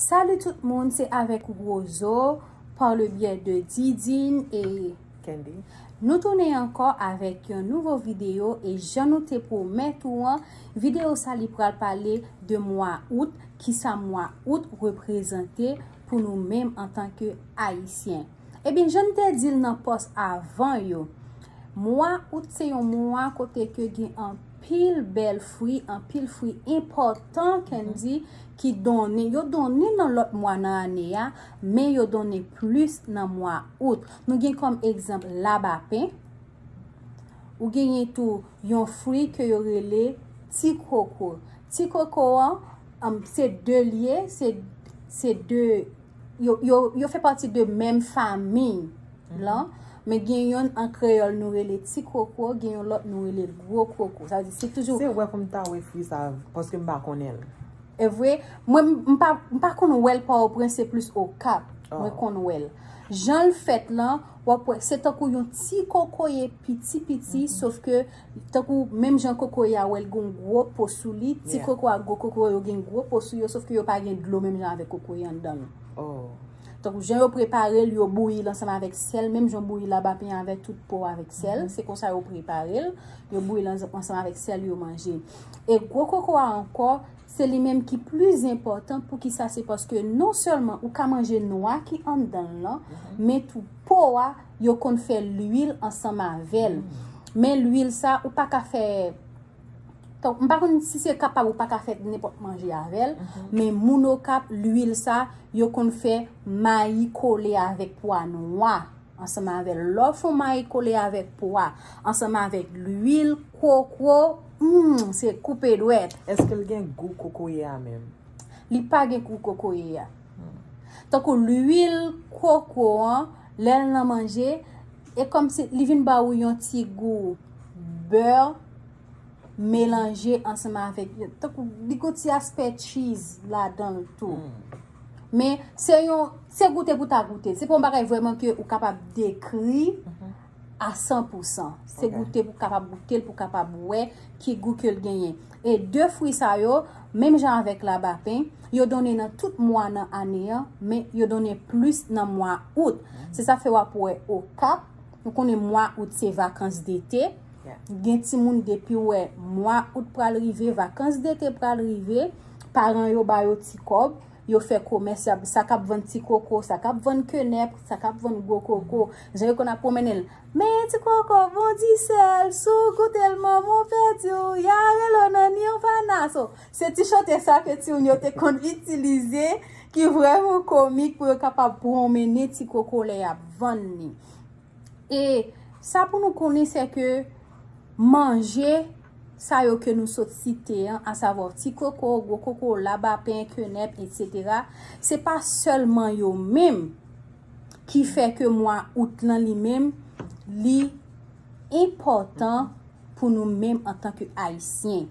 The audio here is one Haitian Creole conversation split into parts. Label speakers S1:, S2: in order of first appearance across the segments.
S1: Salut tout moun, se avèk Rozo, par le biyè de Didine et Kendy.
S2: Nou tounen
S1: ankò avèk yon nouvo videyo e jan nou te pwomèt ou an, videyo sa li pral pale de mwa out, kisa mwa out reprezante pou nou menm antanke Ayisyen. Ebyen janm te dil nan pòs avan yo mwa out se yon mwa kote ke gen anpil bèl fwi anpil fwi enpòtan kendy ki donnen yo donnen nan lòt mwa nan ane a men yo donnen plis nan mwa out nou gen kòm egzanp labapen ou genyen tou yon fwi ke yo rele ti koko ti koko an se de lye se de yo fè pati de menm fami lan, men gen yon an kreyòl nou rele ti koko, gen yon lòt nou rele gwo koko. Sa vle di se toujou. Se wè pou m ta wè fwi
S2: sa paske m pa konnen l. E vre?
S1: Mwen m pa m pa konn wè l Pòtoprens se plis Okap mwen konn wè l. Jan l fèt lan, w ap wè se tankou yon ti kokoye piti piti sof ke Tankou menm jan kokoye a wè l gen yon gwo po sou li, ti koko ak gwo koko yo gen gwo po sou yo sof ke yo pa gen dlo menm jan avèk kokoye anndan l.
S2: Tankou jan yo
S1: prepare l, yo bouyi l ansanm avèk sèl menm jan w bouyi labapen avèk tout po avèk sèl, se konsa yo prepare l, yo bouyi l ansanm avèk sèl yo manje. E gwo koko a ankò. Se li menm ki plis enpòtan poukisa se paske non sèlman ou ka manje nwa ki anndan l lan men tou po a yo konn fè lwil ansanm avè l men lwil sa ou pa ka fè tank m pa konn si se kapab ou pa ka fè nenpòt manje avè l men moun okap lwil sa yo konn fè mayi kole avèk pwa nwa ansanm avè l lè w fon mayi kole avèk pwa ansanm avèk lwil kokwo Humm se koupe dwet. Eske l gen gou
S2: kokoye a menm. Li pa gen
S1: gou kokoye a. Tankou lwil koko an lè l nan manje e kòmsi li vin ba ou yon ti gou beurre melanje ansanm avèk tankou li gen yon ti aspè cheese ladan l tou. Men se yon se goute pou ta goute l. Se pa yon bagay vrèman ke ou kapab dekri a 100 pou 100. Se goute pou kapab goute l, pou kapab wè ki gou ke l genyen. E 2 fwi sa yo, menm jan avèk labapen, yo donnen nan tout mwa nan ane an, men yo donnen plis nan mwa out. Se sa fè wap wè Okap, nou konnen mwa out se vakans dete, gen ti moun depi w wè mwa out pral rive, vakans dete pral rive, paran yo ba yo ti kòb, Yo fè komès, sa k ap vann ti koko, sa k ap vann kenèp, sa k ap vann gwo koko, jan yo konn ap pwonmennen l. Men ti koko bon di sèl, si w goute l manman w pèdi w, y a rele w nan Nirvana. So, se ti chante sa ke timoun yo te konn itilize ki vrèman komik pou yo kapab pwonmennen ti koko lè y ap vann li. E sa pou nou konnen se ke manje sa yo ke nou sot site an, a savo ti koko, gwo koko, labapen, kenèp, etc. Se pa selman yo menm ki fè ke mwa out lan li menm li enpotan pou nou menm antanke ayisyen.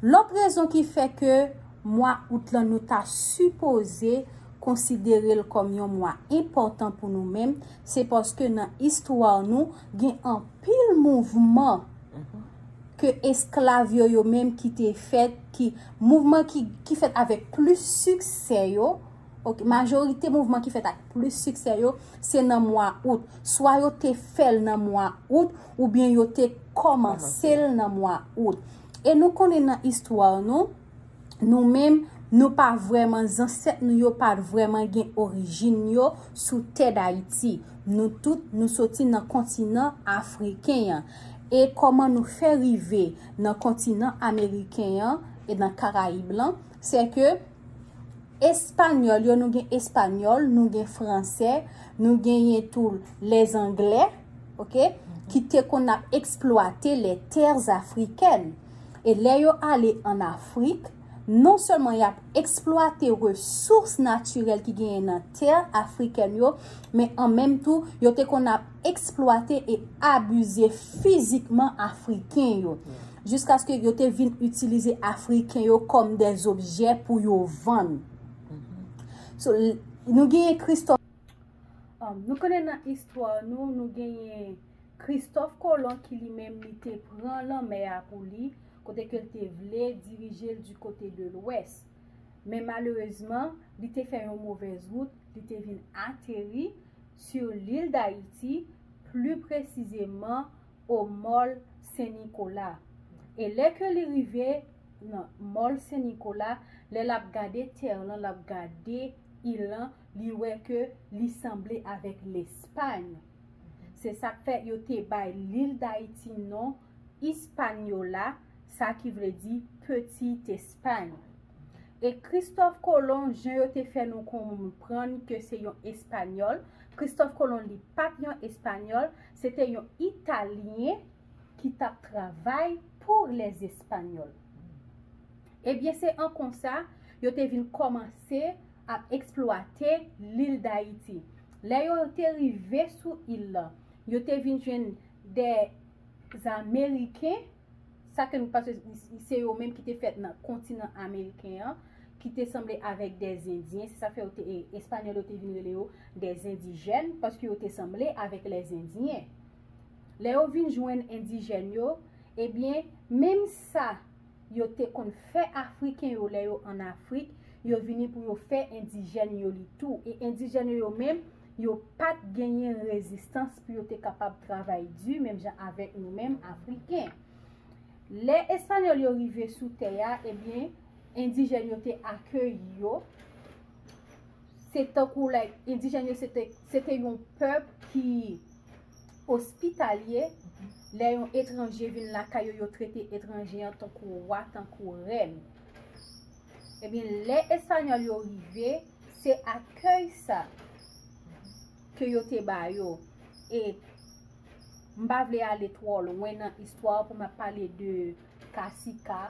S1: Lòt rezon ki fè ke mwa Out lan nou ta sipoze konsidere l kòm yon mwa enpòtan pou nou menm, se paske nan istwa nou gen anpil mouvman ke esklav yo yo menm ki te fèt, ki mouvman ki fèt avèk plis siksè yo, ok, majorite mouvman ki fèt ak plis siksè yo, se nan mwa Out. Swa yo te fè l nan mwa Out. Oubyen yo te kòmanse l nan mwa out. E nou konnen nan istwa nou, nou menm, nou pa vrèman, zansèt nou yo pa vrèman gen orijin yo sou tè Dayiti. Nou tout, nou soti nan kontinan afriken an. E kòman nou fè rive nan kontinan ameriken an, e nan karayib lan, se ke espanyòl yo, nou gen espanyòl, nou gen fransè, nou genyen tou lèzanglè, ok, ki te konn ap eksplwate les terres africaines. E lè yo ale an Afrik, non sèlman y ap eksplwate resous natirèl ki genyen nan tè afrikèn yo, men an menm tou, yo te konn ap eksplwate e abize fizikman Afriken yo. Jiskaske yo te vin itilize Afriken yo kòm des objè pou yo vann. So, nou genyen Christophe. An, nou konnen nan istwa nou, nou genyen Kristòf Kolon ki li menm li te pran lanmè a pou li, kote ke l te vle dirije l di kote de lwès. Men malerezman, li te fè yon movèz wout, li te vin ateri sur lil Dayiti, pli presizeman o Mòl Sen Nikola. E lè ke li rive nan Mòl Sen Nikola, lè l ap gade tè lan, l ap gade il lan, Li wè ke li sanble avèk Lespany. Se sa k fè yo te bay lil Dayiti non Ispanyola, sa ki vle di Petit Espagne. E Kristòf Kolon, jan yo te fè nou konprann ke se yon Espanyòl, Kristòf Kolon li pa t yon Espanyòl, se te yon Italyen ki t ap travay pou Lèzespanyòl. Ebyen se an konsa yo te vin kòmanse. ap eksplwate lil Dayiti. Lè yo te rive sou il lan, yo te vin jwenn de Ameriken, sa ke nou panse se yo menm ki te fèt nan kontinan Ameriken an, ki te sanble avèk de Zendyen, se sa fè yo te, Espanyòl yo te vin rele yo de Zendijèn, paske yo te sanble avèk lè Zendyen. Lè yo vin jwenn Endijèn yo, ebyen, menm sa. yo te konn fè Afriken yo lè yo ann Afrik, yo vini pou yo fè Endijèn yo li tou. E Endijèn yo yo menm, yo pa t genyen rezistans pou yo te kapab travay di menm jan avèk nou menm Afriken. Lè Espanyòl yo rive sou tè a, ebyen, Endijèn yo te akeyi yo. Se tankou like, Endijèn yo se te yon pèp ki. Ospitalye, Lè yon etranje vin lakay yo, yo trete etranje an tankou wa, tankou rèn. Ebyen, lè Espanyòl yo rive, se akèy sa ke yo te ba yo. E, m pa vle ale twò lwen nan istwa pou m ap pale de kasika,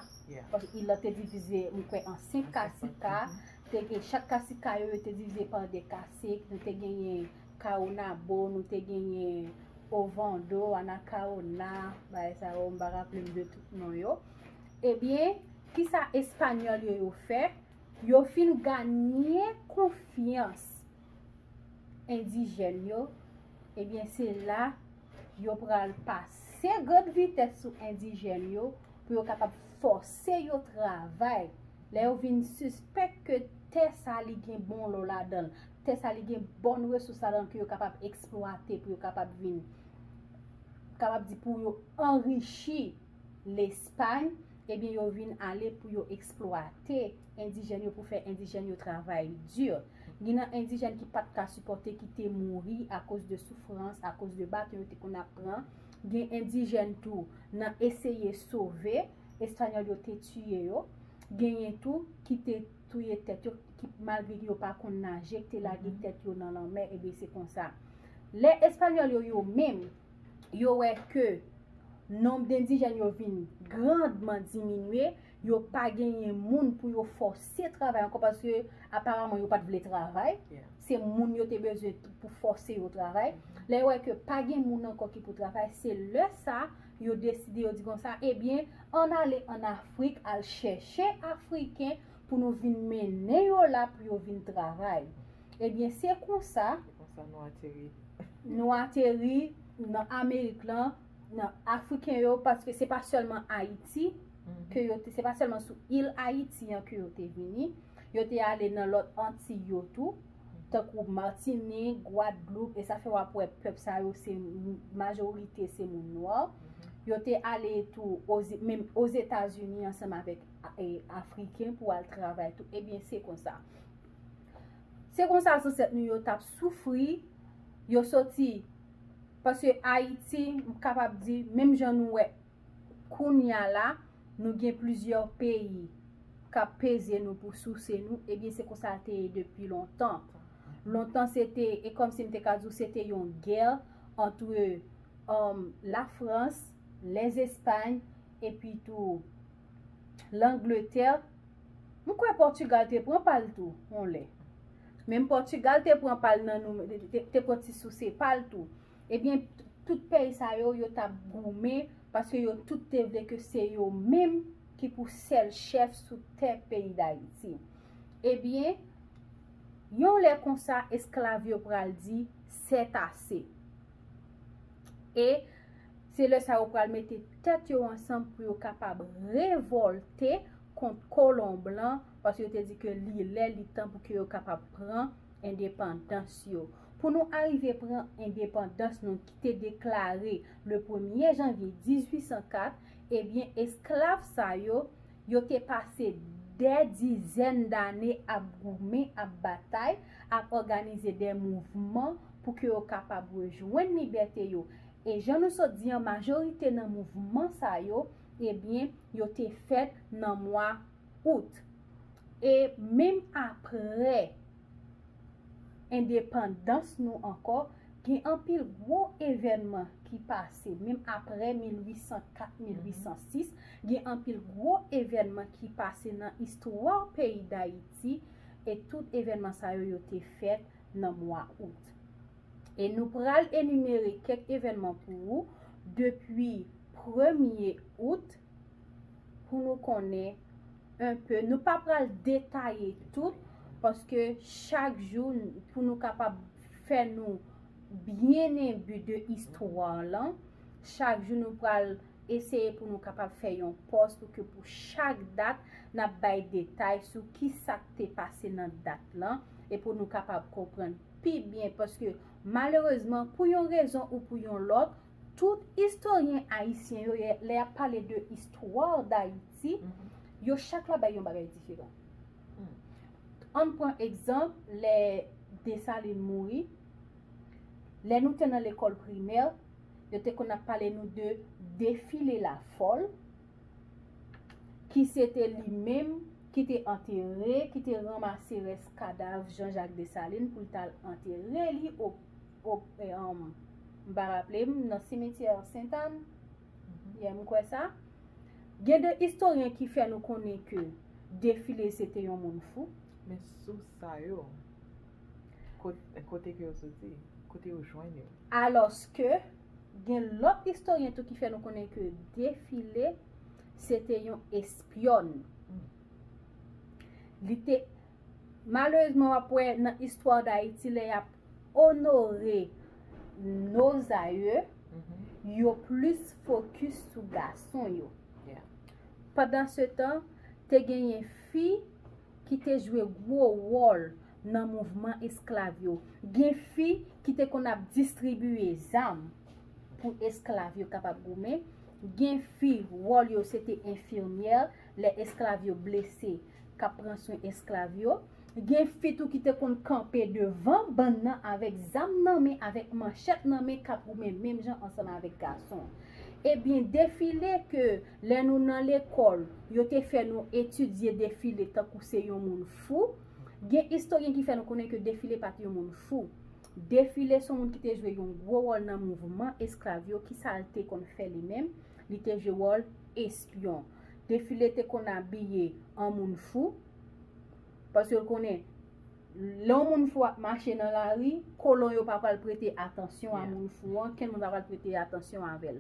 S1: paske il lan te divize, m kwè, an 5 kasika. Te gen chak kasika yo, yo te divize pa 2 kasik. Nou te genyen. Caonabo nou te genyen Ovando, Anacaona, bagay sa yo, m pa raple m de tout non yo. Ebyen, ki sa espanyòl yo yo fè? Yo fin ganye konfyans endijèn yo, ebyen se la yo pral pase gòd vitès sou endijèn yo pou yo kapab fòse yo travay. Lè yo vin sispèk ke tè sa li gen bon lò ladan l. Tè sa li gen bon resous ladanl ke yo kapab eksplwate pou yo kapab vin kapab di pou yo anrichi Lespay, ebyen yo vin ale pou yo eksplwate endijèn yo pou fè endijèn yo travay di. Gin nan endijèn ki pat ka sipòte ki te mouri akoz de soufrans, akoz de baton yo te konn ap pran, gen endijèn tou nan eseye sove, espanyòl yo te tiye yo, genyen tou ki te. touye tèt yo ki malgre ke yo pa konn naje te lage tèt yo nan lanmè ebyen se konsa lè espanyòl yo yo menm yo wè ke nonb dendijèn yo vin grandman diminye yo pa genyen moun pou yo fòse travay ankò paske aparamman yo pat vle travay se moun yo te bezwen pou fòse yo travay lè yo wè ke pa gen moun ankò ki pou travay se lè sa yo deside yo di konsa ebyen ann ale ann afrik al chèche afriken pou nou vin mennen yo la pou yo vin travay ebyen se konsa nou ateri nan amerik lan nan afriken yo paske se pa selman ayiti mm-hmm. se pa selman sou il ayiti an ke yo te vini yo te ale nan lot anti yo tou tankou Martinique, Guadeloupe e sa fè wap wè pèp sa yo se majorite se moun nwa. Yo te ale tou menm Ozetazini ansanm avèk Afriken pou al travay tou. Ebyen eh se konsa. Se konsa zansèt nou yo tap soufri, yo soti paske Ayiti m kapab di menm jan nou wè. Kounya la, nou gen plizyè peyi k ap peze nou pou souse nou, ebyen se konsa l te ye depi lontan. Lontan se te, e kòm si m te ka di w se te yon gè antre Lafrans, Lèzespay epi tou Langletè. M kwè Pòtigal te pran pa l tou yon lè. Menm Pòtigal te pran pa l nan nou, te pran ti souse pa l tou. Ebyen, tout peyi sa yo, yo t ap goumen paske yo tout te vle ke se yo menm ki pou sèl chèf sou tè peyi Dayiti. Ebyen, yon lè konsa esklav yo pral di, sètase. E, se lè sa yo pral mete tèt yo ansanm pou yo kapab revòlte kont kolon blan paske yo te di ke li lè li tan pou ke yo kapab pran endepandans yo. pou nou arive pran endepandans nou ki te deklare le premye janvye 1804, ebyen esklav sa yo, yo te pase dè dizèn dane ap goumen, ap batay, ap òganize dè mouvman pou ke yo kapab rejwenn libète yo. E jan nou sot di an, majorite nan mouvman sa yo, ebyen yo te fèt nan mwa Out. E menm apre. endepandans nou ankò, gen anpil gwo evènman ki pase, menm apre 1804, 1806, gen anpil gwo evènman ki pase nan istwa peyi Dayiti, e tout evènman sa yo, yo te fèt nan mwa Out. E nou pral enimere kèk evènman pou ou, depi premye Out, pou nou konnen un peu, nou pa pral detaye tout, paske chak jou pou nou kapab fè nou byen enbi de istwa lan, chak jou nou pral eseye pou nou kapab fè yon pòs pou ke pou chak dat n ap bay detay sou ki sa k te pase nan dat lan, e pou nou kapab konprann pi byen, paske malerezman pou yon rezon ou pou yon lòt, Tout istoryen ayisyen yo lè yap pale de istwa dayiti yo chak la bay yon bagay diferan ann pran egzanp lè desalin mouri lè nou te nan lekòl primè yo te konn ap pale nou de defile la fòl ki se te li menm ki te antere ki te ranmase rès kadav janjak desalin pou l tal antere li o. Ok eum m pa raple m nan simetyè Sent Ann yè m kwè sa. Gen de istoryen ki fè nou konnen ke Defile se te yon moun fou. Men sous
S2: sa yo, kote ke yo soti? Kote yo jwenn yo? Alòs ke
S1: gen lòt istoryen tou ki fè nou konnen ke Defile se te yon espyòn. Li te. Malerezman w ap wè nan istwa Dayiti lè y ap onore nos aïeux, yo plis fokis sou gason yo. Pandansetan, te genyen fi ki te jwe gwo wòl nan mouvman esklav yo. Gen fi ki te konn ap distribiye zam pou esklav yo kapab goumen. Gen fi, wòl yo se te enfimyè lè esklav yo blese. kap pran swen esklav yo, gen fi tou ki te konn kanpe devan bann nan avèk zam nan men, avèk manchèt nan men kap goumen menm jan ansanm avèk gason. Ebyen defile ke lè nou nan lekòl yo te fè nou etidye defile tankou se yon moun fou, gen istoryen ki fè nou konnen ke defile pat yon moun fou. Defile son moun ki te jwe yon gwo wòl nan mouvman esklav yo, kisa l te konn fè li menm, li te jwe wòl espyon. Defile te konn abiye an moun fou, paske l konnen, lè yon moun fou ap mache nan lari, kolon yo pa pral prete atansyon a moun fou an, kenn moun pa pral prete atansyon avè l.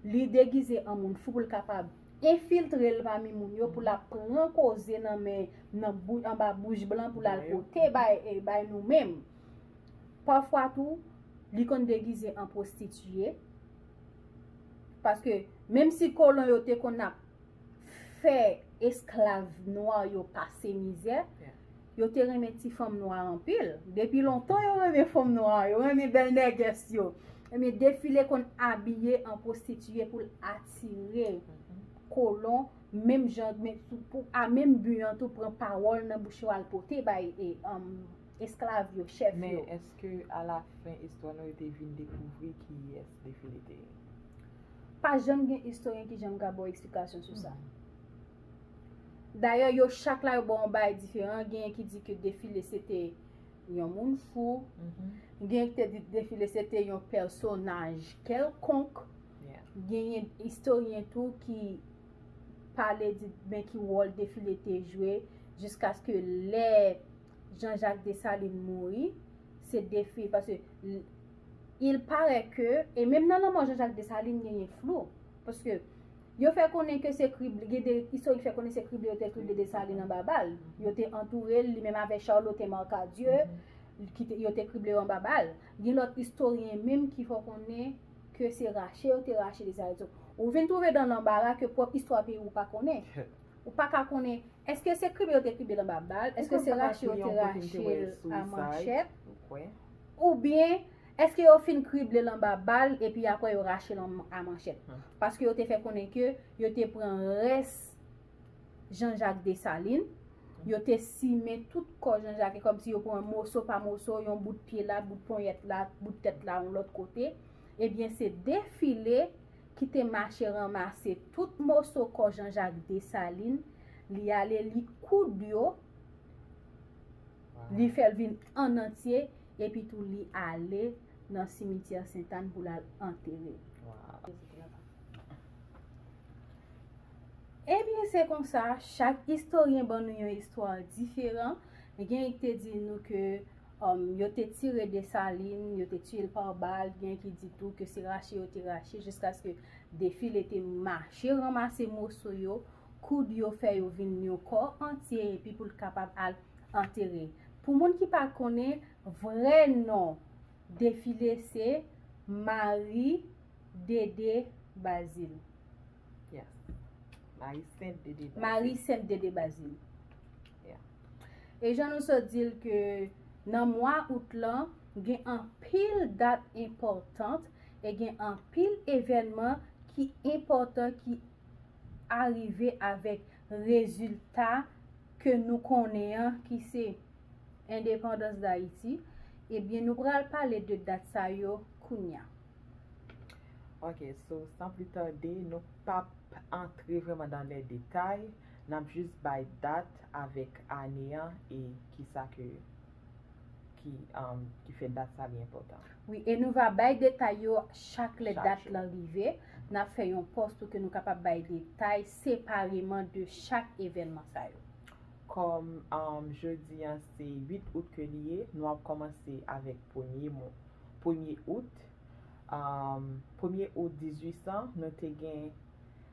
S1: Li degize an moun fou pou l kapab enfiltre l pami moun yo, pou l ap pran koze nan men, anba bouch blan pou l al pote bay nou menm. Pafwa tou, li konn degize an pwostitiye, Paske, menm si kolon yo te konn ap fè esklav nwa yo pase mizè, yo te renmen ti fanm nwa anpil. Depi lontan yo renmen fanm nwa, yo renmen bèl nègès yo. Ebyen, Defile konn abiye an pwostitiye pou l atire kolon, menm jan, pou a menm bi an tou, pran pawòl nan bouch yo al pote bay. esklav yo, chèf yo. Men eske
S2: alafen istwa nou yo te vin dekouvri kiyès Defile te ye?
S1: Pa janm gen istoryen ki janm ka ba w eksplikasyon sou sa. Dayè yo chak la yo ba w yon bagay diferan, genyen ki di ke Defile se te yon moun fou, genyen ki te di Defile se te yon pèsonaj kèlkonk, genyen istoryen tou ki pale di men ki wòl Defile te jwe jiskaske lè Jean-Jacques Dessalines mouri, se defi, paske, il parè ke, e menm nan lanmò Jean-Jacques Dessalines genyen flou, paske, yo fè konnen ke se krible, gen de istorik ki fè konnen se krible yo te krible Dessalines anba bal, yo te antoure l, li menm avèk Charlotte Marcadieu, ki te, yo te krible yo anba bal. Gen lòt istoryen menm ki fè konnen ke se rache yo te rache Dessalines. Ou vin twouve dan lanbara ke pwòp istwa peyi ou pa konnen. Ou pa ka konnen eske se kribe yo te kribe l anba bal, eske se rache yo te rache l a manchèt,
S2: oubyen
S1: eske yo fin kribe l anba bal epi apre yo rache l a manchèt. Paske yo te fè konnen ke yo te pran rès Jean Jacques Dessalines, yo te simen tout kò Jean Jacques, e kòm si yo pran moso pa moso, yon bout pye la, bout ponyèt la, bout tèt la, yon lòt kote, ebyen se defile. ki te mache ranmase tout moso kò Janjak Desalin, li ale li koud yo, li fè l vin ann antye, epi tou li ale nan simityè Sentàn pou l al antere l. Ebyen se konsa, chak istoryen ban nou yon istwa diferan, gen ki te di nou ke. Yo te tire Dessalines, yo te tiye l pa bal, gen ki di tou ke se rache yo te rache jiskaske Defile te mache ranmase moso yo, koud yo fè yo vin yon kò antye epi pou l kapab al antere. Pou moun ki pa konnen, vrè non Defile se Marie Dede Bazile.
S2: Marie Sainte Dede
S1: Bazile.
S2: E jan
S1: nou sot di l ke nan mwa out lan, gen anpil dat enpòtant e gen anpil evènman ki enpòtan ki arive avèk rezilta ke nou konnen an ki se endepandans Dayiti, ebyen nou pral pale de dat sa yo kounya.
S2: Ok, so san pli tade, nou pap antre vrèman dan lè detay. Nap jis bay dat avèk ane an e kisa ke ki fè dat sa li enpòtan. Wi e nou va bay
S1: detay yo chak lè dat lan rive,
S2: nap
S1: fè yon pòs tou ke nou kapab bay detay separeman de chak evènman sa yo. Kòm
S2: jodi an se 8 out ke li ye, nou ap kòmanse avèk premye mou, premye out, premye out 1800 nou te gen.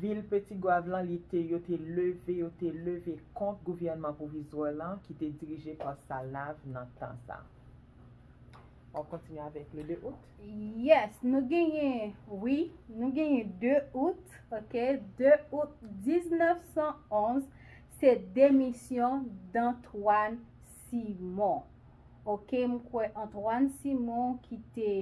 S2: Vil Petit-Goâve lan li te yo te leve yo te leve kont gouvènman pwovizwa lan ki te dirije pa Salnave nan tan sa. Wap kontinye avèk le 2 out? Yes, nou
S1: genyen, wi, nou genyen 2 out, ok, 2 out 1911 se demisyon d'Antoine Simon. Ok, m kwè Antoine Simon ki te.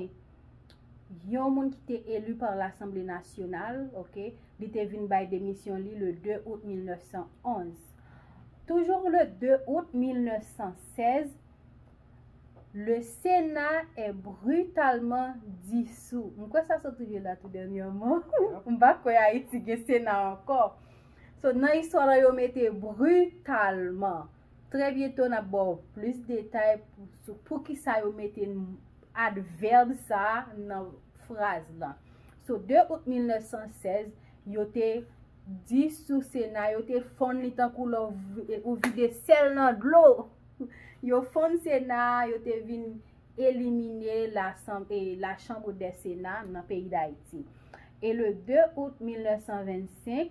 S1: yon moun ki te eli pa Lasanble Nasyonal, ok, li te vin bay demisyon li le 2 out 1911. Toujou le 2 out 1916, le Sena è britalman disou. M kwè sa soti vye la tou dènyèman. M pa kwè Ayiti gen Sena ankò. So nan istwa la yo mete britalman. Trè byento n ap ba w plis detay sou poukisa yo mete advèb sa a nan fraz lan. Sou 2 out 1916, yo te di sou Sena yo te fonn li tankou lè ou vide sèl nan dlo. Yo fonn Sena a, yo te vin elimine Lachanbre des Senats nan peyi Dayiti. E le 2 out 1925,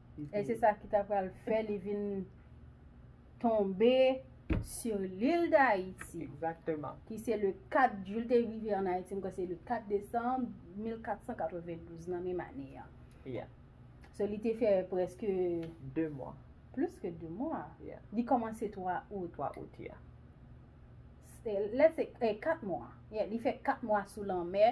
S1: E se sa ki ta pral fè li vin tonbe sur l'île d'Haïti. Exactement. Ki
S2: se le 4,
S1: jou li te rive an Haïti, m kwè se le 4 desanm 1492,
S2: nan
S1: menm ane an. Yeah. So li te fè preske. 2 mwa.
S2: Plis ke 2 mwa.
S1: Yeah. Li kòmanse
S2: 3
S1: out. 3 out,
S2: yeah.
S1: Let's say, 4 mwa. Yeah, li fè 4 mwa sou lanmè.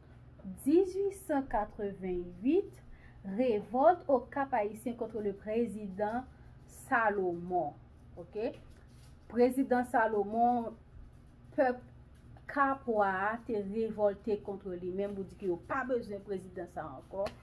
S1: 1888, Revolt au Cap Haïtien contre le Président Salomon. Ok. Prezidan Salomon, pèp Kapwa a te revolte kontre li menm pou di ke yo pa bezwen prezidan sa ankò.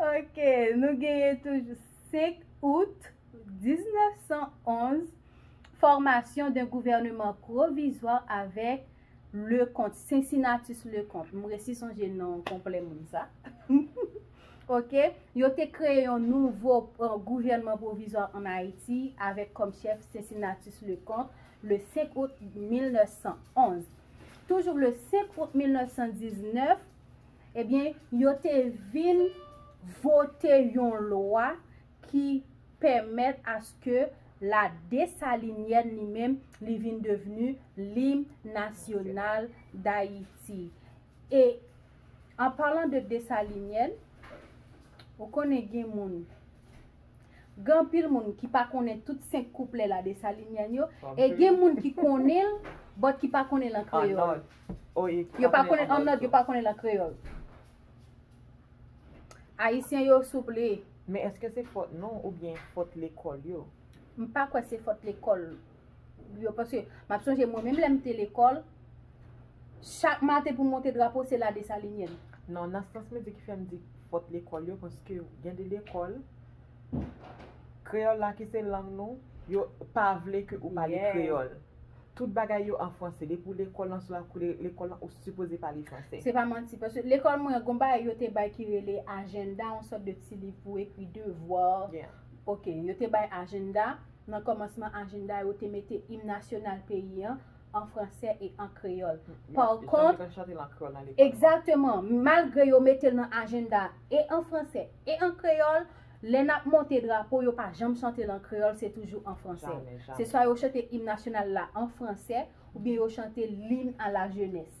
S1: Ok, nou genye toujou 5 out 1911, fòmasyon de gouvèneman pwovizwa avèk Leconte, Cincinnatus Leconte. M resi sonje non konplè moun sa. Ok, yo te kreye yon nouvo euh, gouvèneman pwovizwa an Ayiti avèk kòm chèf Cincinnatus Leconte le 5 out 1911. toujou le 5 out 1919, ebyen, yo te vin vote yon lwa ki pèmèt aske la Desalinyèn li menm li vin devni lim nasyonal Dayiti. E, an palan de Desalinyèn, ou konnen gen moun Gen anpil moun ki pa konnen tout 5 kouplè la Dessalinyen yo, e gen moun ki konnen l, bòt ki pa konnen l an kreyòl. Yo pa konnen l an nòt, yo pa konnen l an kreyòl. Ayisyen yo souple. Men eske se fòt
S2: nou oubyen fòt lekòl yo? M pa kwè se
S1: fòt lekòl. yo paske map sonje mwen menm lèm te lekòl chak maten pou monte drapo se la Dessalinienne. Non nan sans mwen
S2: di ki fèm di fòt lekòl yo paske gen de lekòl kreyòl la ki se lang nou yo pa vle ke ou pale kreyòl tout bagay yo an franse depi ou lekòl lan sou la kou lekòl lan ou sipoze pale franse. Se pa manti paske
S1: lekòl mwen gon bagay yo te bay ki rele ajenda yon sòt de ti liv pou ekri devwa ok
S2: yo te
S1: bay ajenda. Nan kòmansman ajenda yo te mete im nasyonal peyi an an fransè e an kreyòl. Pàkont, egzakteman, malgre yo mete l nan ajenda e an fransè e an kreyòl, lè n ap monte drapo yo pa janm chante l an kreyòl, se toujou an fransè. Se swa yo chante im nasyonal la an fransè oubyen yo chante l L'hymne à la jeunesse.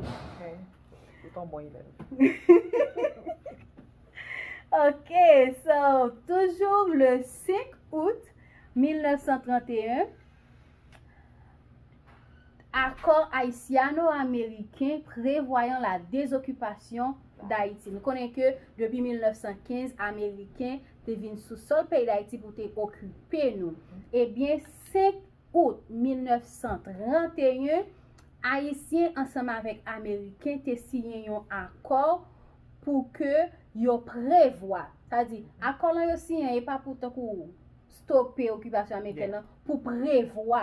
S2: Ou ton bon elèv.
S1: Ok, so, toujou le 5 out 1931, akò Ayisyano-Ameriken prevwayan la dezokipasyon Dayiti. Nou konnen ke depi 1915, Ameriken te vin sou sol peyi Dayiti pou te okipe nou. Ebyen, 5. Out 1931, Ayisyen ansanm avèk Ameriken te siyen yon akò pou ke yo prevwa, sa di, akò lan yo siyen an e pa pou tankou stope okipasyon Amerikèn lan, pou prevwa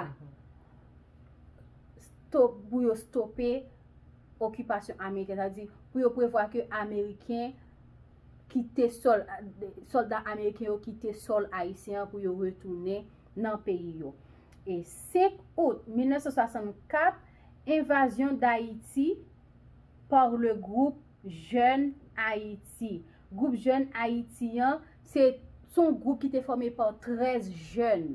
S1: pou yo stope okipasyon Amerikèn, sa di, pou yo prevwa ke Ameriken kite sòl, sòlda Ameriken yo kite sòl Ayisyen an pou yo retounen. nan peyi yo. E 5 Out 1964, envazyon Dayiti par le groupe Jeunes Haïti. Group jèn Ayiti an, se yon group ki te fòme par 13 jèn.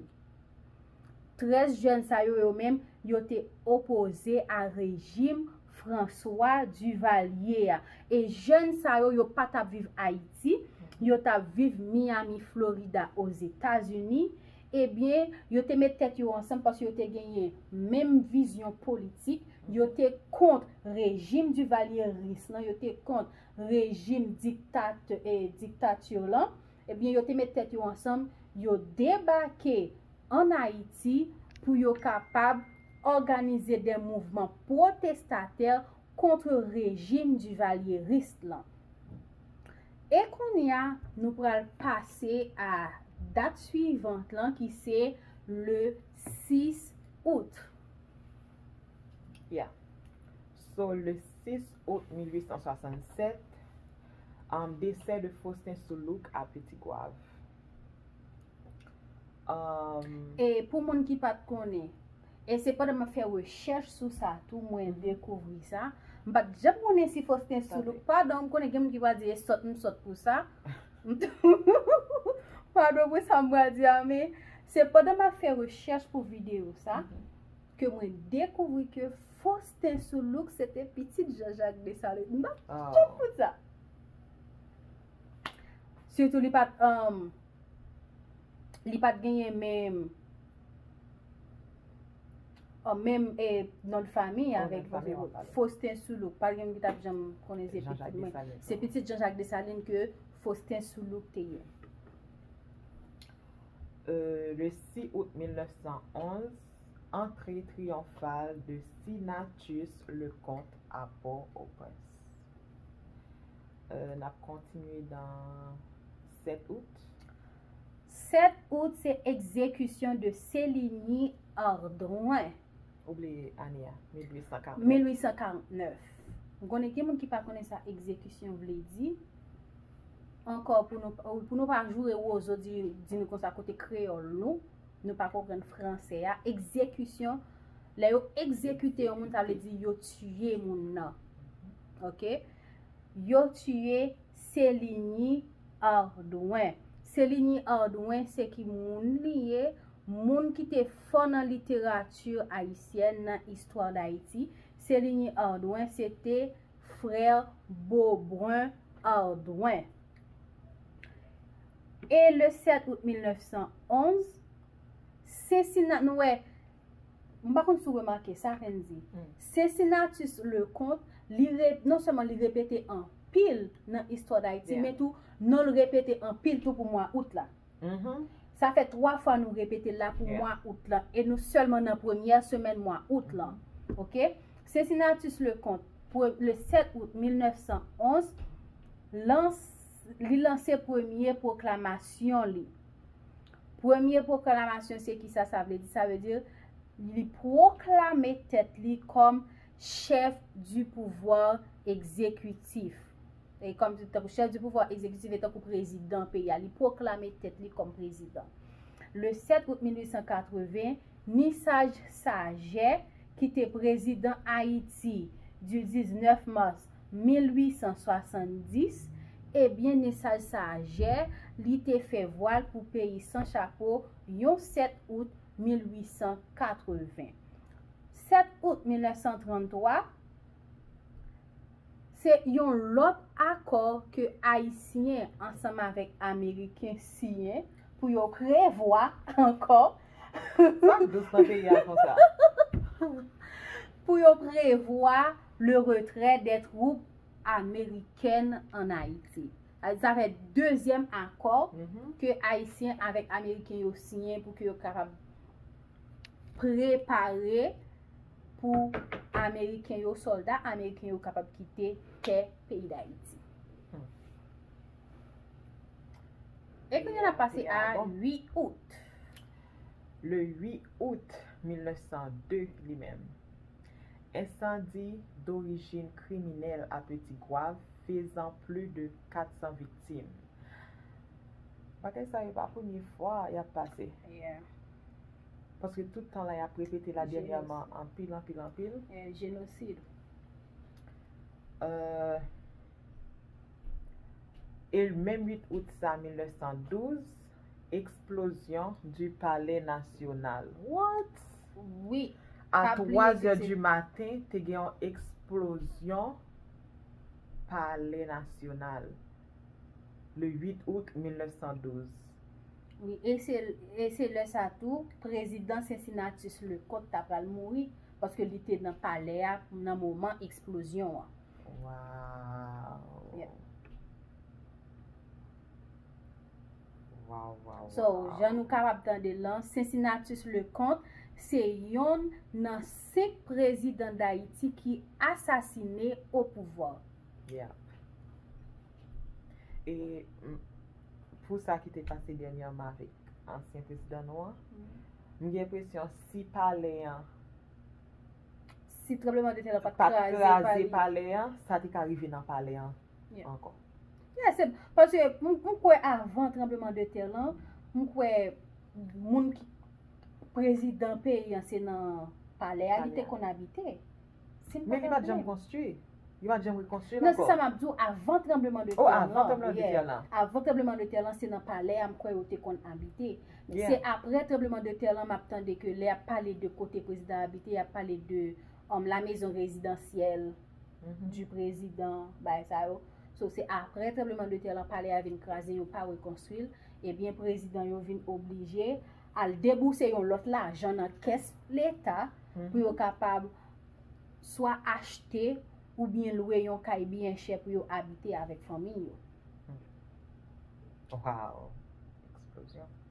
S1: 13 jèn sa yo, yo menm, yo te opoze a rejim François Duvalier a. E jèn sa yo, yo pa t ap viv Ayiti, yo t ap viv Miami, Florida, Ozetazini. Ebyen, yo te met tèt yo ansanm paske yo te genyen menm vizyon politik. Yo te kont rejim Duvalieris lan, yo te kont rejim diktatè, diktati lan. Ebyen yo te met tèt yo ansanm, yo debake an Ayiti pou yo kapab òganize de mouvman pwotestatè kontre rejim Duvalierist lan. E konnya nou pral pase a dat suivant lan ki se le 6 Out.
S2: Ya. So le 6 out 1867, desè de Faustin Soulouque a Petit Goâve.
S1: E pou moun ki pat konnen, e se pandan map fè rechèch sou sa tou mwen dekouvri sa, m pat janm konnen si Faustin Soulouque, padon m konnen gen moun ki pral di e sòt m sòt pou sa, padon pou sa m pral di a men, se pandan map fè rechèch pou videyo sa, ke mwen dekouvri ke Faustin Soulouque se te pitit Jean Jacques Dessalines. M bat tout pou sa. Sitou li pat um, li pat genyen menm an oh, menm e eh, non fami avèk Faustin Soulouk. Par gen ki tap janm konnen se pitit mwen. Se pitit Jean-Jacques Dessalines ke Faustin Soulouk te ye. Euh,
S2: le 6 août 1911, Antre triyonfal de Sinatus Leconte a Port-au-Prince. N ap kontinye nan 7 out.
S1: 7 out se ekzekisyon de Celigny Ardouin. Ou bliye
S2: ane a, 1849. 1849. M
S1: konnen gen moun ki pa konnen sa ekzekisyon vle di. Ankò pou nou pa joure wozo di nou konsa kote kreyòl nou. Nou pa konprann fransè a. Egzekisyon, lè yo egzekite yon moun, sa vle di yo tiye moun nan. Ok? Yo tiye Celigny Ardouin. Celigny Ardouin se ki moun li ye? Moun ki te fò nan literati ayisyèn, nan istwa dAyiti. Celigny Ardouin se te frè Beaubrun Ardouin. E le 7 out 1911, Cincinna, nou wè, m pa konn si w remake sa, Fendy, Cincinnatus Leconte, li re, non sèlman li repete anpil nan istwa Dayiti, men tou, non l repete anpil tou pou mwa out la. Sa fè 3 fwa nou repete l la pou mwa out la, e nou sèlman nan premyè semèn mwa out la. Ok? Cincinnatus Leconte, le 7 out 1911, lanse. li lanse premye pwoklamasyon li. Premye pwoklamasyon se ki sa sa vle di? Sa vle di li pwoklame tèt li kòm chèf di pouvwa egzekitif. E kòm se tankou chèf di pouvwa egzekitif e tankou prezidan peyi a. Li pwoklame tèt li kòm prezidan. Le 7 out 1880, Nisaj Sajè ki te prezidan Ayiti di 19 mas. 1870, e byen nesaj sa a jè, li te fè vwal pou peyi san chapo yon 7 out 1880. 7 out 1933, se yon lòt akò ke Ayisyen ansanm avèk Ameriken siyen pou yo prevwa ankò, pou yo prevwa le retrè dè twoup amerikèn an Ayiti. Sa fè dezyèm akò ke Ayisyen avèk Ameriken yo siyen pou ke yo kapab prepare pou Ameriken yo, solda Ameriken yo kapab kite tè peyi Dayiti. E kounye la pase a 8 out.
S2: Le 8 out 1902 li menm. Ensandi dorijin kriminèl a Peti Gwav fezan pli de 400 viktim. Bagay sa yo pa premye fwa y ap pase. Paske tout tan la y ap repete la dènyèman anpil anpil anpil. Jenosid.
S1: E
S2: menm 8 out sa 1912. Eksplozyon du palè nasyonal. What? Wi. A
S1: 3
S2: zè du maten, te gen yon eksplozyon palè nasyonal. Le 8 out 1912. Wi,
S1: e se lè sa tou, prezidan Cincinnatus Leconte ta pral mouri, paske li te nan palè a nan moman eksplozyon an. Waww.
S2: Waw waw waw. So jan nou
S1: kapab tande lan Cincinnatus Leconte se yonn nan 5 prezidan dayiti ki asasine o pouvwa.
S2: Yeah. E pou sa ki te pase dènyèman avèk ansyen prezidan nou an, m gen enpresyon si palè an
S1: Si tranbleman de tè lan pat kraze palè
S2: an, sa te ka rive nan palè an ankò.
S1: Yè
S2: se,
S1: paske m kwè avan tranbleman de tè lan, m kwè moun ki prezidan peyi an se nan palè a li te konn abite. Men li
S2: pa t janm konstwi. Yo pa t janm rekonstwi l ankò. Non, se sa m ap di w, avan
S1: tranbleman de tè lan. O, avan tranbleman de tè
S2: lan. Avan tranbleman de tè lan
S1: se nan palè a m kwè yo te konn abite. Se aprè
S2: tranbleman
S1: de tè lan m ap tande ke lè y ap pale de kote prezidan abite y ap pale de la mezon rezidansyèl. du prezidan bay sa yo so se aprè tranbleman de tè lan palè a vin kraze yo pa rekonstwi l ebyen prezidan yo vin oblije al debouse yon lòt lajan nan kès leta pou yo kapab swa achte oubyen lwe yon kay byen chè pou yo abite avèk fanmi yo.
S2: Waww eksplozyon.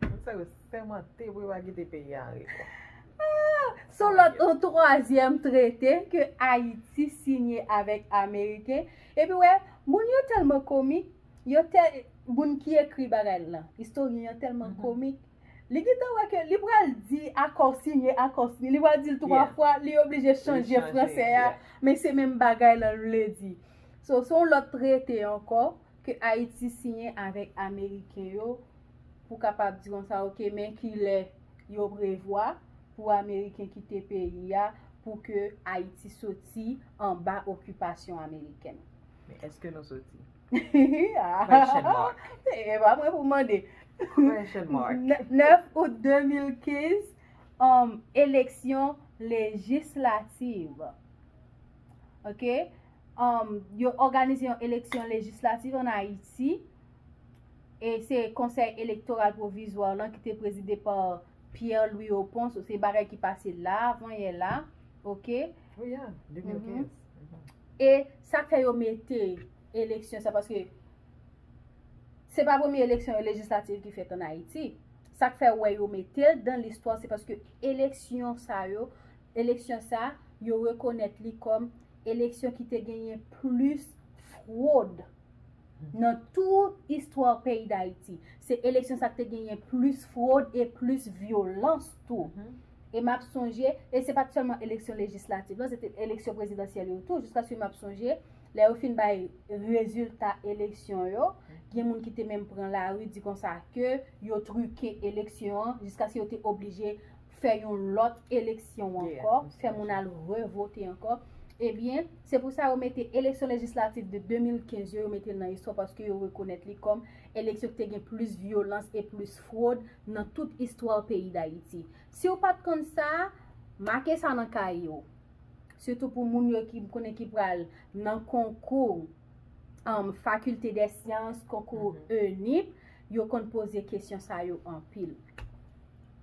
S1: Moun
S2: sa yo sèmante pou yo pa kite peyi a anri to.
S1: Sou lòt yon twazyèm trete ke Ayiti sinye avèk Ameriken, epi wè, moun yo tèlman komik, yo tè, moun ki ekri bagay lan, istoryen an tèlman komik, li gentan wè ke li pral di akò sinye, akò sinye, li pral di l twa fwa, li oblije chanje franse a, men se menm bagay lan l vle di. So, se yon lòt trete ankò. Ke Ayiti siyen avèk Ameriken yo pou kapab di konsa ok men kilè yo prevwa pou Ameriken kite peyi a pou ke Ayiti soti anba okipasyon Amerikèn. Men eske nou
S2: soti?
S1: Question mark. E pa mwen pou mande. Question
S2: mark. 9 out
S1: 2015, Eleksyon lejislativ. Ok. yo òganize yon eleksyon lejislatif an Ayiti, e se Konsèy Elektoral Pwovizwa lan ki te prezide pa Pierre Louis Opont, so se bagay ki pase la, avan yè la, ok. Wi
S2: an, 2015. E
S1: sa k fè yo mete eleksyon sa, paske se pa premye eleksyon lejislatif ki fèt an Ayiti. Sa k fè wè yo mete l dan listwa, se paske eleksyon sa yo, eleksyon sa, yo rekonèt li kòm. Eleksyon ki te genyen plis fwod nan tout istwa peyi Dayiti. Se eleksyon sa k te genyen plis fwod e plis vyolans tou. E m ap sonje, e se pa t sèlman eleksyon lejislatif lan, se te eleksyon prezidansyèl yo tou. Jiskaske m ap sonje, lè yo fin bay rezilta eleksyon yo, gen moun ki te menm pran lari di konsa ke yo trike eleksyon an jiskaske yo te oblije fè yon lòt eleksyon ankò, fè moun al revote ankò, ebyen, se pou sa yo mete eleksyon lejislatif de 2015 yo, yo mete l nan istwa paske yo rekonèt li kòm eleksyon ki te gen plis vyolans e plis fwod nan tout istwa peyi Dayiti. Si w pa t konn sa, make sa nan kaye w. Sitou pou moun yo ki m konnen ki pral nan konkou fakilte dè syans, konkou ENIP, yo konn poze kesyon sa yo anpil.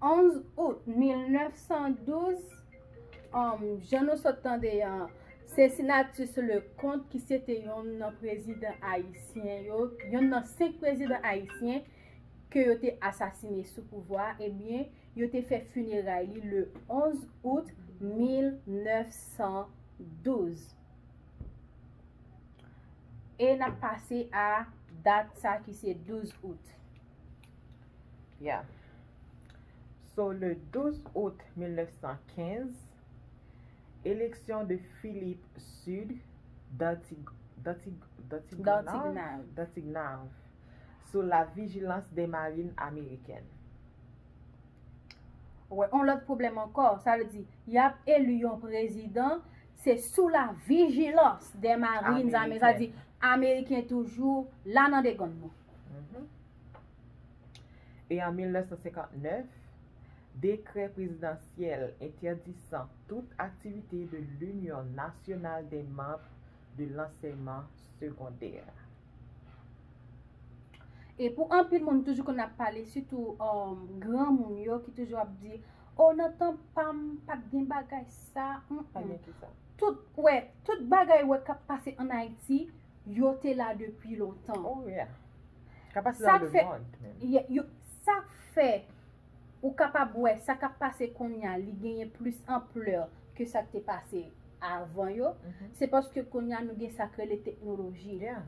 S1: 11 out 1912, jan nou sot tande an, se Senatus Leconte ki se te yon nan prezidan ayisyen yo, yon nan 5 prezidan ayisyen ke yo te asasine sou pouvwa, ebyen, yo te fè funeray li le 11 out 1912. E nap pase a dat sa ki se 12 out.
S2: Ya. So le 12 out 1915, eleksyon de Philippe Sud Dantignave sou la vijilans de marin amerikèn.
S1: Wè on lòt pwoblèm ankò, sa vle di, y ap eli yon prezidan, se sou la vijilans de marin amerikèn, sa vle di, ameriken toujou la nan degonn nou.
S2: E an 1959, dekrè prezidansyèl entèdisan tout aktivite de l'Union Nationale des Membres de l'Enseignement Secondaire.
S1: E pou anpil moun toujou konn ap pale, sitou granmoun yo ki toujou ap di, O nan tan pa m, pa t gen bagay sa. Tout bagay ou wè k ap pase ann Ayiti. yo te la depi lontan. Oh yeah.
S2: Kapasite nan le mond menm. Sak fè
S1: ou kapab wè sa kap pase konnya li genyen plis anplè ke sak te pase avan yo, se paske konnya nou gen sak rele teknoloji. Yeah.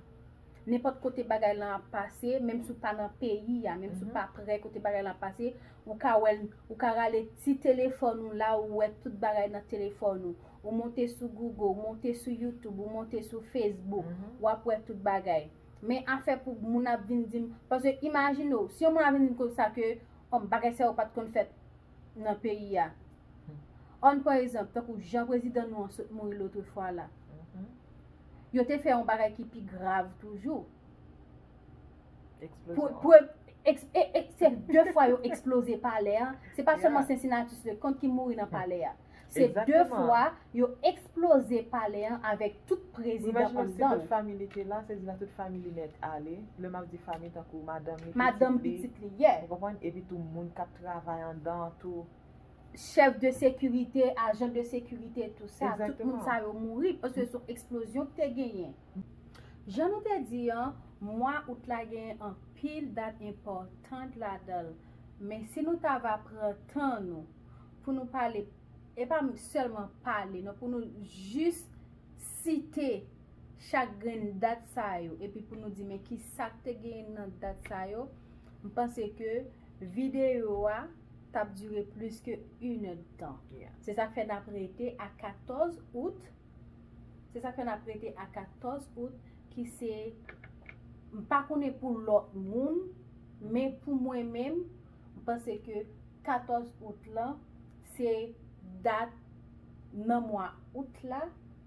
S2: Nenpòt kote
S1: bagay lan ap pase, menm si ou pa nan peyi a, menm si ou pa prè kote bagay lan ap pase, ou ka wèl, ou ka rale ti telefòn ou la ou wè tout bagay nan telefòn ou. Ou monte sou Google, ou monte sou YouTube, ou monte sou Facebook, w ap wè tout bagay. Men afè pou moun ap vin di m, paske imajine w, si yon moun ap vin di m konsa ke bagay sa yo pa t konn fèt nan peyi a. Ann pran egzanp, tankou jan prezidan nou an sot mouri lotrefwa la. Yo te fè yon bagay ki pi grav toujou. Eksplozyon. Se de fwa yo eksploze palè a, se pa sèlman Cincinnatus Leconte ki mouri nan palè a. Se 2 fwa yo eksploze palè an avèk tout prezidan
S2: anndan l. Madanm
S1: pitit
S2: li yè. Chèf de
S1: sekirite, ajan de sekirite tout sa. Tout moun sa yo mouri paske son eksplozyon ki te genyen. Jan nou te di an, mwa out la genyen anpil dat enpòtan ladan l. Men si nou ta va pran tan nou. pou nou pale, e pa sèlman pale non, pou nou jis site chak grenn dat sa yo, epi pou nou di men ki sa k te gen nan dat sa yo, m panse ke videyo a t ap dire plis ke 1 èd tan. Se sa k fè n ap
S2: rete
S1: a 14 out, se sa k fè n ap rete a 14 out, ki se, m pa konnen pou lòt moun, men pou mwen menm, M panse ke 14 out lan se dat nan mwa out la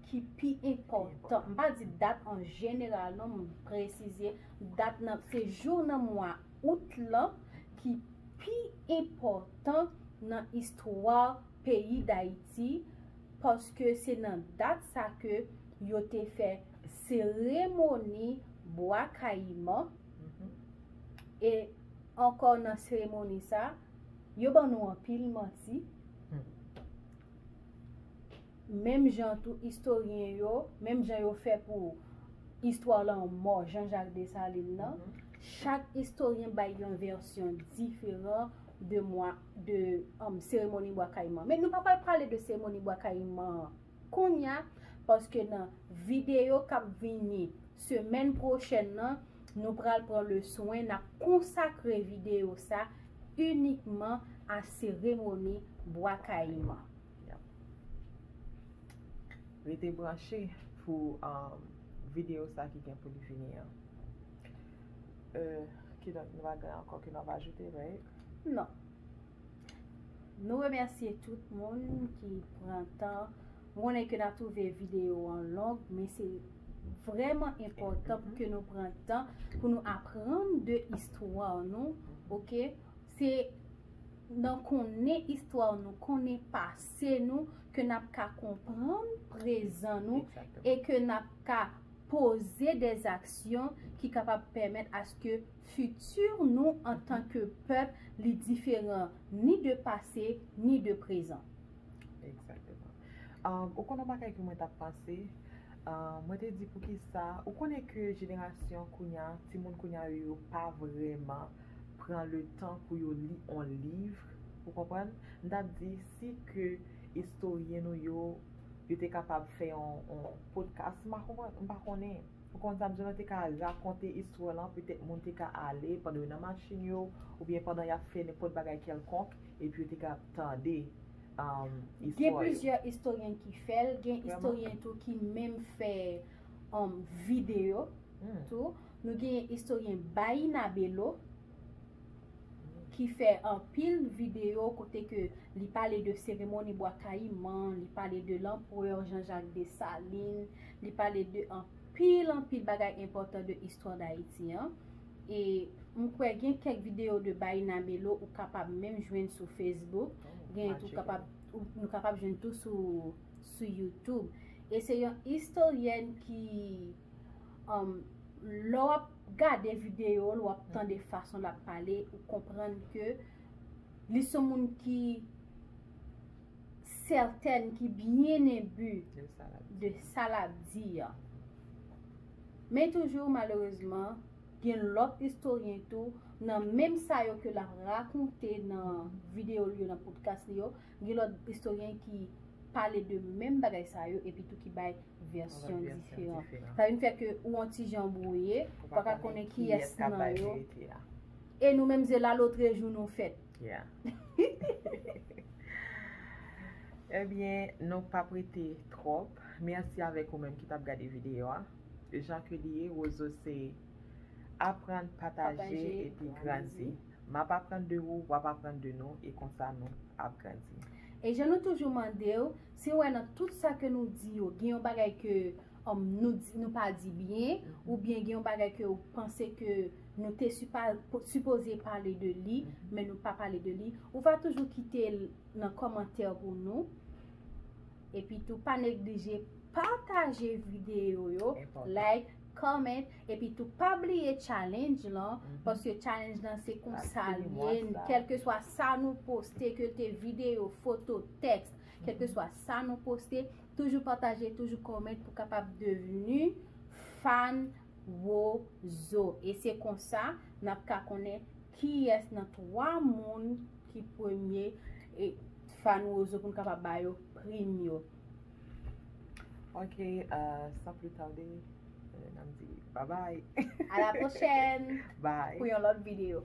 S1: ki pi enpòtan. M pa di dat an jeneral non, m presize dat nan, se jou nan mwa out lan ki pi enpòtan nan istwa peyi Dayiti paske se nan dat sa ke yo te fè seremoni Bwa Kayiman. E ankò nan seremoni sa, yo ban nou anpil manti. Menm jan tou istoryen yo, menm jan yo fè pou istwa lanmò Janjak Desalin nan, chak istoryen bay yon vèsyon diferan de seremoni Bwa Kayiman. Men nou pa pral pale de seremoni Bwa Kayiman an. Kounya, paske nan videyo k ap vini semèn pwochèn nan, nou pral pran le swen n ap konsakre videyo sa inikman a seremoni Bwa Kayiman.
S2: Rete branche pou videyo sa ki gen pou li vini an. Kidonk, nou pa gen ankò ke n ap ajoute, right? Non.
S1: Nou remèsye tout moun ki pran tan. M konnen ke nan twouve videyo an long, men se vreman enpòtan pou ke nou pran tan pou nou aprann de istwa nou, ok? Se nan konnen istwa nou, konnen pase nou, ke n ap ka konprann prezan nou, e ke n ap ka poze de zaksyon ki kapab pèmèt aske Futur nou antan ke pèp li diferan ni de pase ni de prezan. Exactement.
S2: Ou konn yon bagay ke mwen tap panse, mwen te di poukisa, ou konnen ke jenerasyon kounya, timoun kounya yo yo pa vrèman pran le tan pou yo li on livre, ou konprann? M tap di si ke istoryen nou yo, yo te kapab fè on podcast, m pa konnen. Ou konn sa bzwen lan te ka rakonte istwa lan petèt moun te ka ale pandan yo nan machin yo oubyen pandan yap fè nenpòt bagay kèlkonk epi yo te ka ap tande
S1: istwa yo. Gen plizyè istoryen ki fè l, gen istoryen tou ki menm fè videyo tou. Nou genyen istoryen Bayyinah Bello ki fè anpil video kote ke li pale de seremoni bwa kayiman, li pale de l'empereur Jean Jacques Dessalines, li pale de anpil anpil bagay enpòtan de istwa d'Ayiti an. E m kwè gen kèk video de Baïna Melo ou kapab menm jwenn sou Facebook, gen tou kapab, nou kapab jwenn tou sou YouTube. E se yon istoryèn ki. Lè wap gade video l, wap tande fason l ap pale, ou konprann ke li son moun ki sètèn, ki byen enbi de sa l ap di a. Men toujou malerezman, gen lòt istoryen tou, nan menm sa yo ke l ap rakonte nan video l yo, nan podcast li yo, Gen lòt istoryen ki pale de menm bagay sa yo epi tou ki bay vèsyon diferan. Sa vin fè ke ou on ti jan bwouye, ou pa ka konnen kiyès nan yo. E nou menm se lalotre jou nou fèt.
S2: Ebyen, nou pa p rete twòp. Mèsi avèk ou menm ki t ap gade videyo a. Jan ke li ye, Wozo se aprann, pataje epi grandi. Map aprann de ou, wap aprann de nou e konsa nou ap grandi. E jan nou
S1: toujou mandew, si ou wè nan tout sa ke nou di yo gen yon bagay ke nou pa di byen, ou byen gen yon bagay ke ou panse ke nou te sipoze pale de li, men nou pa pale de li, ou va toujou kitel nan kòmantè pou nou. Epi tou pa neglije pataje video yo, like. comment epi tou pa bliye challenge lan paske challenge lan se kon sa l ye kelke swa sa nou poste ke l te video, foto, teks kelke swa sa nou poste toujou pataje, toujou comment pou kapab devenu fan Wozo e se kon sa n ap ka konnen kiyès nan 3 moun ki premye fan Wozo pou n kapab ba yo prim yo.
S2: Ok, san pli tade, nan di bye bye. A la pwochèn.
S1: Bye. Pou yon lòt
S2: videyo.